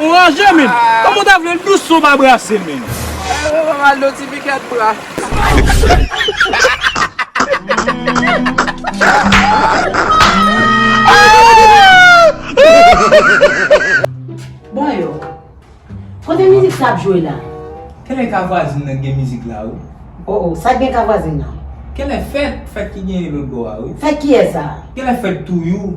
Ou ranje menn. Kòman w ta vle l dous si w pa brase l menn. Eeh ou fè m al do ti pikèt bra. Boy yo. Kote mizik sa ap jwe la? Kèlè ka vwazin nan gen mizik la wi. Oh oh sa gen ka vwazin nan? Kèlè fèt, fèt ki genyen lòt bò a wi. Fèt kiyès sa? Kèlè fèt touyou.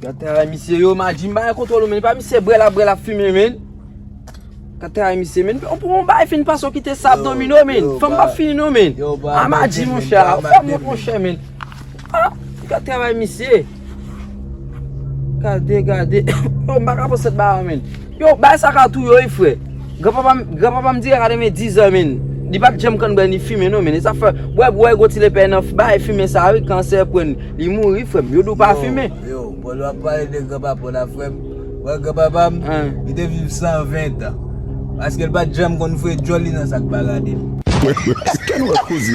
Gad travay misye yo maji m bay kontwòl ou men epa misye brè lap brè lap fimen men Gad travay misye men ou pran yon bagay fin pase ou kite sa ap domine w men fanm pap fini non men A maji monchè a ou fèm wont monchè men A gad travay misye Gade gade m paka pran sèt bagay men. Yow bay sa ka tou yo ui frè. Gran papa m gran papa m di rara te gen 10 ans min li pat janm konn bwè ni fimen non min e sa fè wè bwè gwo ti lepè nan bay fimen sa ui kansè prann li mouri frè m yo di w pa fimen. Yo, Paul wap pale de gran papa w la frèm, wè gran papa m, li te viv 120 tan, paske l pat janm konn fre djòl li nan sak pa gade l. Ken wè koze.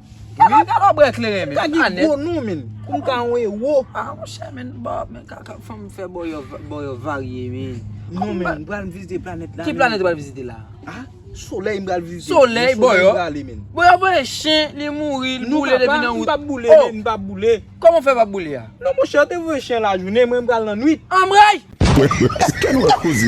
Kaka galo bwe kleren men. Kaka gen gwo non men. Koum ka yon ewo. A mon chè men. Men kaka fanm fè bo yo bo yo varye men. Non men m pral vizite planet la. Ki planet ou pral vizite la? A soley m pral vizite. Soley bo yo. Bo yo voye chen li mouri li boule depi nan wout. Non papa m pap boule men m pap boule. Koman w fè pa boule a? Non monchè yo te voye chen lajounen mwen m pral nan nwit. Anmreyy! Eske nou wè koze?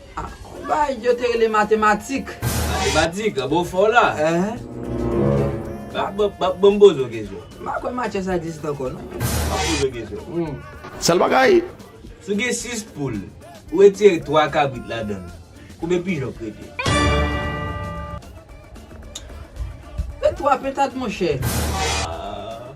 Yon bay yo te rele matematik. Matematik, an bon fè w la. Ehe. Banm poze w kesyon. M pa kwè matyè sa egziste ankò non. Banm poze w kesyon. Sèl bagay. Si w gen 6 poul, ou retire 3 kabrit ladan l, konbyen pijon k rete? Se 3 pentad monchè. Ahh.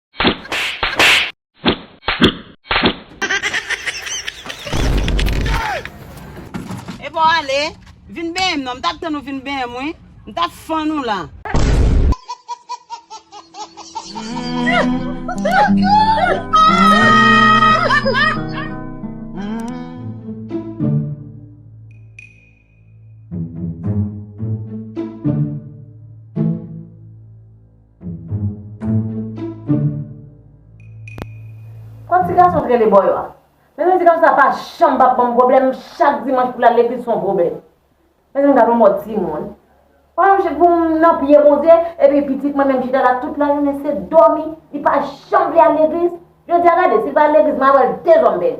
Epa w ale, vin benyen m non, m t ap tann ou vin benyen m wi, m t ap fann ou la. Kon ti gason t rele bò yo a. Mezanmi ti gason sa pa janm pap banm pwoblèm chak dimanch poul al legliz son pwoblèm. Mezanmi gad yon mòd ti moun. Poum nan pye Bondye epi pitit mwen menm chita la tout la jounen se dòmi li pa janm vle al legliz. Jodia gade sil pa al legliz mwen al wèl dezòm bèni.